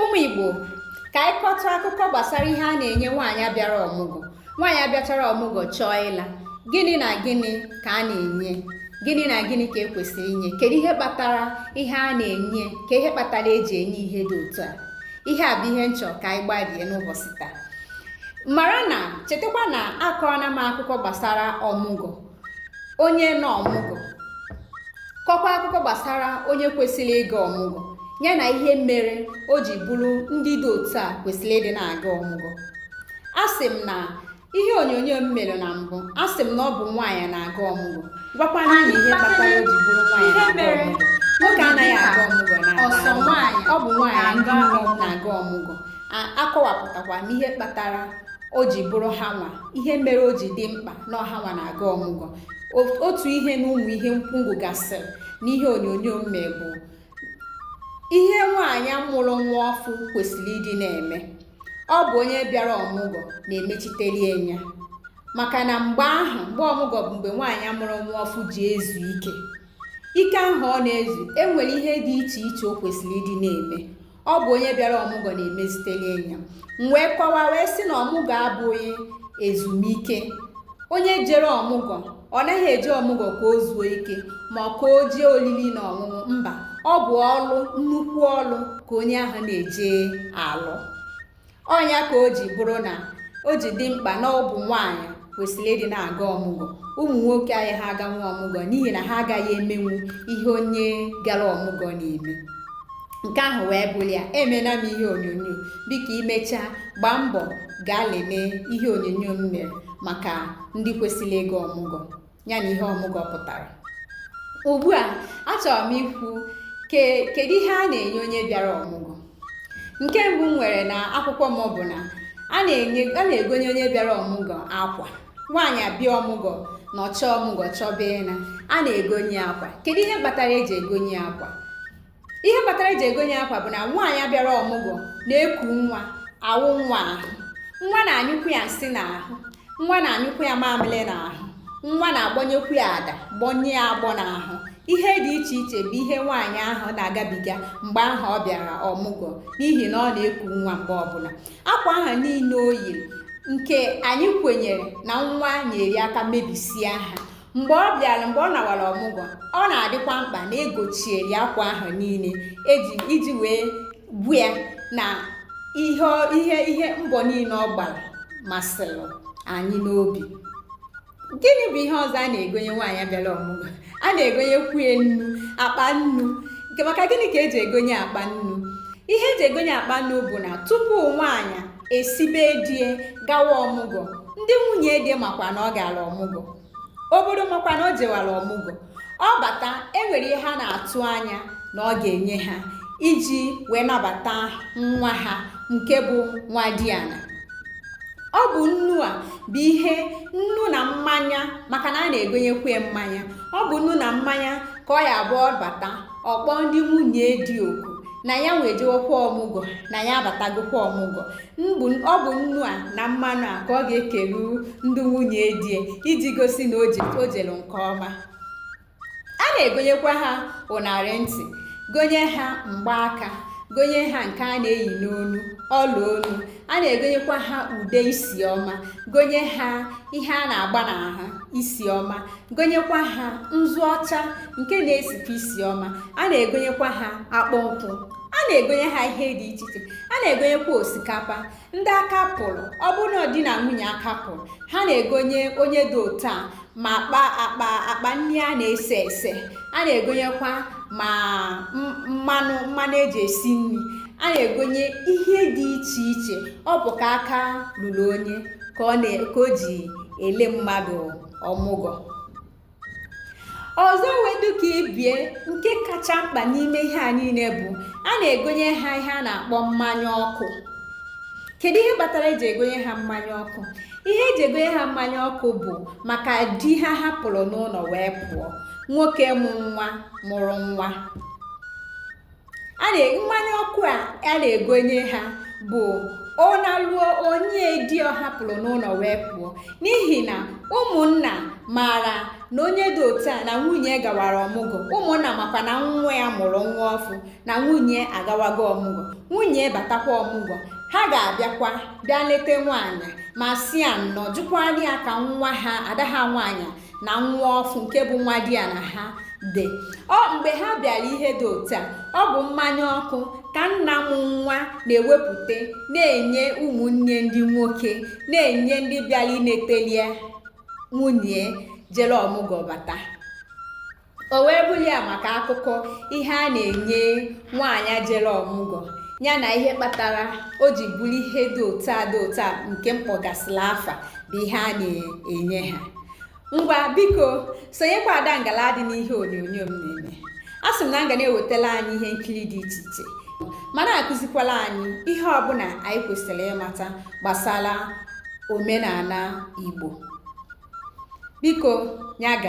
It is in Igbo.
ụmụ igbo ka anyị kọtụ akụkọ gbasara ihe a na-enye nwaanyị a bịara ọmụgwọ nwaanyị abịachara ọmụgwọ chọọ ịla gịnị na gịnị ka a na-enye gịnị na gịnị ka ekwesịrị inye kedu ihe kpatara ihe a na-enye kee ihe kpatara eji enye ihe dị otu a ihe a bụ ihe m chọ ka anyị gbarie n'ụbọchị taa mara na chetakwa na akọọla m akụkọ gbasara ọmụgwọ onye nọ ọmụgwọ kọkwa akụkọ gbasara onye kwesịrị ịga ọmụgwọ ya na ihe mere o ji bụrụ ndị dị otu a kwesịrị ịdị na-aga ọmụgwọ asị m n'ihe onyonyo m mere na mbụ asị m na ọ bụ nwaanyị na-aga ọmụgwọ gwakwa unu ihe kpatara o ji bụrụ nwaanyị na-aga ọmụgwọ nwoke anaghị aga ọmụgwọ na ọ bụ nwaanyị ndị nne na-aga ọmụgwọ akọwapụtakwa m ihe kpatara o ji bụrụ ha nwa ihe mere o ji dị mkpa na ọ ha nwa na-aga ọmụgwọ otu ihe na ụmụ ihe m kwubugasịrị n'ihe onyonyo m mere bụ ihe nwaanyị mụrụ nwa ọfụ kwesịrị ịdị na-eme ọ bụ onye bịara ọmụgwọ na-emechitelie nya maka na mgbe ahụ mgbe ọmụgwọ bụ mgbe nwaanyị mụrụ nwa ọfụ ji ezu ike ike ahụ ọ na-ezu enwere ihe dị iche iche o kwesịrị ịdị na-eme ọ bụ onye bịara ọmụgwọ na-emezitelie nya m wee kọwa wee sị na ọmụgwọ abụghị ezumike onye jere ọmụgwọ ọ naghị eje ọmụgwọ ka o zuo ike ma ọ ka o jee olili na ọṅụṅụ mba ọ bụ ọlụ nnukwu ọlụ ka onye ahụ na-eje alụ ọ nya ka o ji bụrụ na o ji dị mkpa na ọ bụ nwaanyị kwesịrị ịdị na-aga ọmụgwọ ụmụ nwoke anaghị aganwu ọmụgwọ n'ihi na ha agaghị emenwu ihe onye gara ọmụgwọ na-eme nke ahụ wee bụrụ ya emela m ihe onyonyo biko i mechaa gbaa mbọ gaa lelee ihe onyonyo m mere maka ndị kwesịrị ịga ọmụgwọ ya na ihe ọmụgwọ pụtara ugbu a achọrọ m ikwu kedu ihe a na-enye onye bịara ọmụgwọ nke mbụ m nwere n'akwụkwọ m bụ na a na-egonye onye bịara ọmụgwọ akwa nwaanyị abịa ọmụgwọ nọchaa ọmụgwọ chọba ịna a na-egonye akwa kedu ihe kpatara eji egonye akwa ihe kpatara eji egonye akwa bụ na nwaanyị a bịara ọmụgwọ na-eku nwa awụ nwa ahụ nwa na-anyụkwu ya nsị n'ahụ nwa na-anyụkwu ya mamịrị n'ahụ nwa na-agbọnyekwu ya ada gbọnye ya agbọ n'ahụ ihe dị iche iche bụ ihe nwaanyị ahụ na-agabiga mgbe ahụ ọ bịara ọmụgwọ n'ihi na ọ na-eku nwa mgbe ọbụla akwa ahụ niile o yiri nke anyị kwenyere na nwa nyere aka mebisia ha mgbe ọ bịara mgbe ọ nawara ọmụgwọ ọ na-adịkwa mkpa na egochiere ya akwa ahụ niile eji iji wee gwa ya na ihe ihe ihe mbọ niile ọ gbara masịrị anyị n'obi gịnị bụ ihe ọzọ a na-egonye nwaanyị bịara ọmụgwọ a na-egonyekwu ya nnu akpa nnu maka gịnị ka eji egonye akpa nnu ihe eji egonye akpa nnu bụ na tupu nwaanyị esi be die gawa ọmụgwọ ndị nwunye di makwa na ọ gara ọmụgwọ obodo makwa na o jewara ọmụgwọ ọ bata enwere ihe ha na-atụ anya na ọ ga-enye ha iji wee nabata nwa ha nke bụ nwa diana ọ bụ nnu a bụ ihe nnu na mmanya maka na a na-egonyekwu mmanya ọ bụ nnu na mmanya ka ọ ya-abụ ọ bata ọ kpọọ ndị nwunye di oku na ya nwa ejewokwa ọmụgwọ na ya abatagokwa ọmụgwọ mbụ ọ bụ nnu a na mmanụ a ka ọ ga-ekelu ndị nwunye die iji gosi na o jere nke ọma a na-egonyekwa ha ụnarị ntị gonye ha mgbaaka gonye ha nke a na-eyi n'onu ọla onu a na-egonyekwa ha ude isi ọma gonye ha ihe a na-agba n'ahụ isi ọma gonyekwa ha nzu ọcha nke na-esikwa isi ọma a na-egonyekwa ha akpụ nkwụ a na-egonye ha ihe dị iche iche a na-egonyekwa osikapa ndị aka pụrụ ọ bụrụ na di na nwunye aka pụrụ ha na-egonye onye dị otu a ma akpa akpa akpa nri a na-ese ese a na-egonyekwa ma mmanụ mmanụ eji esi nri a na-egonye ihe dị iche iche ọ bụ ka aka luru onye ka ọ na ka o ji ele mmadụ ọmụgwọ ọzọ wee dụ ka ibie nke kacha mkpa n'ime ihe a niile bụ a na-egonye ha ihe a na-akpọ mmanya ọkụ kedu ihe kpatara eji egonye ha mmanya ọkụ ihe eji egonye ha mmanya ọkụ bụ maka di ha hapụrụ n'ụlọ wee pụọ nwoke mụ nwa mụrụ nwa mmanya ọkụ a a na-egonye ha bụ ọ naruo o nye di ọ hapụrụ n'ụlọ wee pụọ n'ihi na ụmụnna maara na onye dị otu a na nwunye gawara ọmụgwọ ụmụnna makwa na nwa ya mụrụ nwa ọfụ na nwunye agawago ọmụgwọ nwunye batakwa ọmụgwọ ha ga-abịakwa bịa leta nwaanyị ma sị ya nnọ jụkwaa ya ka nwa ha ada ha nwaanyị na nwa ọfụ nke bụ nwa diana ha dị mgbe ha bịara ihe dị otu a ọ bụ mmanya ọkụ ka nna mụ nwa na-ewepụta na-enye ụmụnne ndị nwoke na-enye ndị bịara inetelie nwunye jere ọmụgwọ bata o wee bụrụ ya maka akụkọ ihe a na-enye nwaanyị jere ọmụgwọ ya na ihe kpatara o ji bụrụ ihe dị otu a dị otu a nke m kpọgasịla afa bụ ihe a na-enye ha ngwa biko sonyekwa ada ngala dị n'ihe onyonyo m na-eme asị m na m ga na-ewetala anyị ihe nkiri dị iche iche ma na-akụzikwala anyị ihe ọbụna anyị kwesịrị ịmata gbasara omenana Igbo biko ya ga